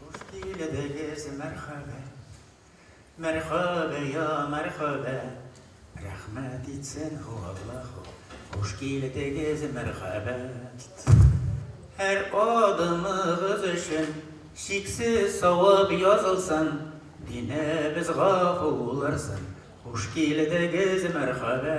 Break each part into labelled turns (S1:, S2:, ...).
S1: Хуш килдегез, мәрхәбә, мәрхәбә, я мәрхәбә, рәхмәт итсен ху Аллаһу. Хуш килдегез, мәрхәбә. Һәр адымыгыз өчен чиксез савап язылсын, динебез гафу булырсын. Хуш килдегез, мәрхәбә,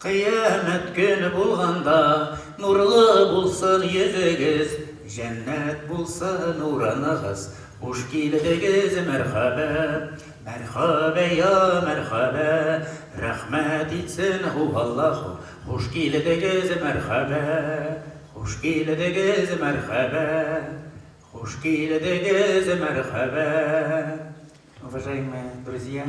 S1: Кыямәт көне булганда, нурлы булсын йөзегез, җәннәт булсын урыныгыз, хуш килдегез, мәрхәбә, мәрхәбә, йа мәрхәбә, рәхмәт итсен һу Аллаһу, хуш килдегез, мәрхәбә, хуш килдегез, мәрхәбә, хуш килдегез, мәрхәбә. Уважаемые друзья!